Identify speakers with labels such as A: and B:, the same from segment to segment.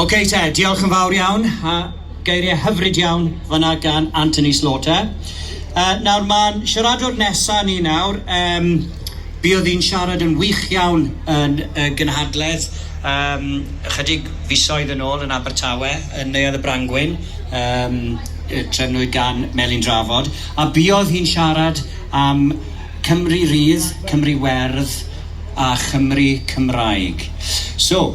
A: Ok te, diolch yn fawr iawn, a geiriau hyfryd iawn fanna gan Anthony Slaughter. Uh, nawr mae'n siaradwr nesa ni nawr, um, buodd hi'n siarad yn wych iawn yn y gynhadledd um, ychydig fisoedd yn ôl yn Abertawe, yn Neuadd y Brangwyn, um, trefnwyd gan Melin Drafod, a buodd hi'n siarad am Cymru Rydd, Cymru Werdd a Chymru Cymraeg. So,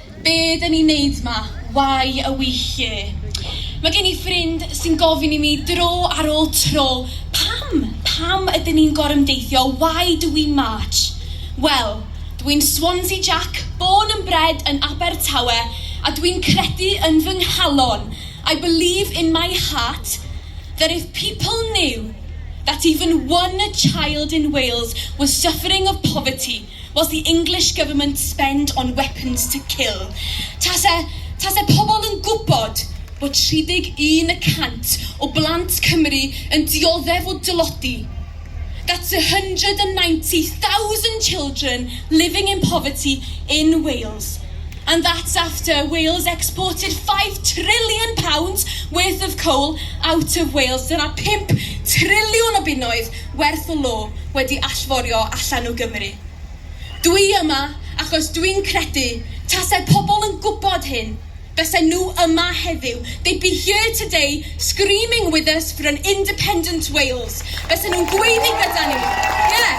B: Be dyn ni'n neud ma? Why are we here? Mae gen i ffrind sy'n gofyn i mi dro ar ôl tro, pam? Pam ydyn ni'n gorymdeithio? Why do we march? Wel, dw i'n Swansea Jack, born and bred yn Abertawe, a dw i'n credu yn fy nghalon, I believe in my heart, that if people knew that even one child in Wales was suffering of poverty, Was the English government spend on weapons to kill? Tase, tase pobl yn gwybod bod 31 y cant o blant Cymru yn dioddef o dylodi, that's 190,000 children living in poverty in Wales, and that's after Wales exported five trillion pounds worth of coal out of Wales, dyna pump triliwn o bunnoedd, werth o law wedi allforio allan o Gymru. Dw i yma achos dw i'n credu tasai pobl yn gwybod hyn, fysen nhw yma heddiw, they'd be here today screaming with us for an independent Wales, fysen nhw'n gweiddi gyda ni, ie,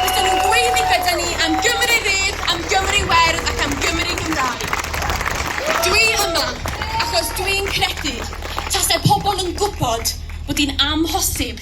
B: fysen nhw'n gweiddi gyda ni am Gymru rydd, am Gymru werdd ac am Gymru Gymraeg. Dw i yma achos dw i'n credu tasai pobl yn gwybod bod hi'n amhosib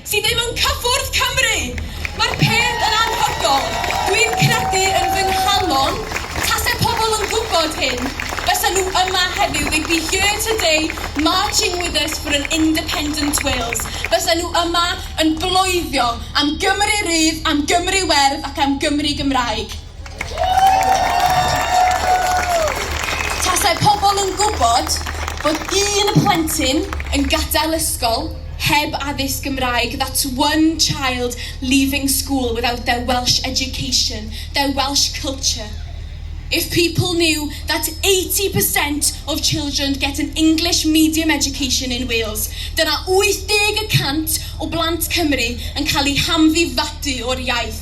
B: Ti ddim yn cyffwrdd Cymru! Mae'r peth yn anhygol. Dwi'n credu yn fy nghalon, tase pobl yn gwybod hyn, fysa nhw yma heddiw, they'd be here today marching with us for an independent Wales. Fysa nhw yma yn bloeddio am Gymru rydd, am Gymru werdd ac am Gymru Gymraeg. Tasai pobl yn gwybod bod un plentyn yn gadael ysgol heb addysg Gymraeg, that's one child leaving school without their Welsh education, their Welsh culture. If people knew that 80 per cent of children get an English medium education in Wales, dyna 80 y cant o blant Cymru yn cael eu hamddifadu o'r iaith.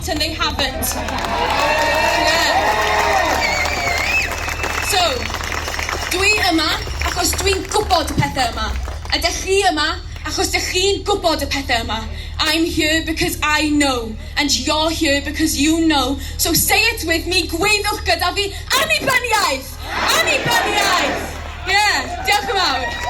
B: and they haven't. So, dw i yma achos dw i'n gwybod y pethau yma. A dych chi yma achos dych chi'n gwybod y pethau yma. I'm here because I know, and you're here because you know, so say it with me, gweiddiwch gyda fi, Annibyniaeth! Annibyniaeth! Ie, diolch yn fawr.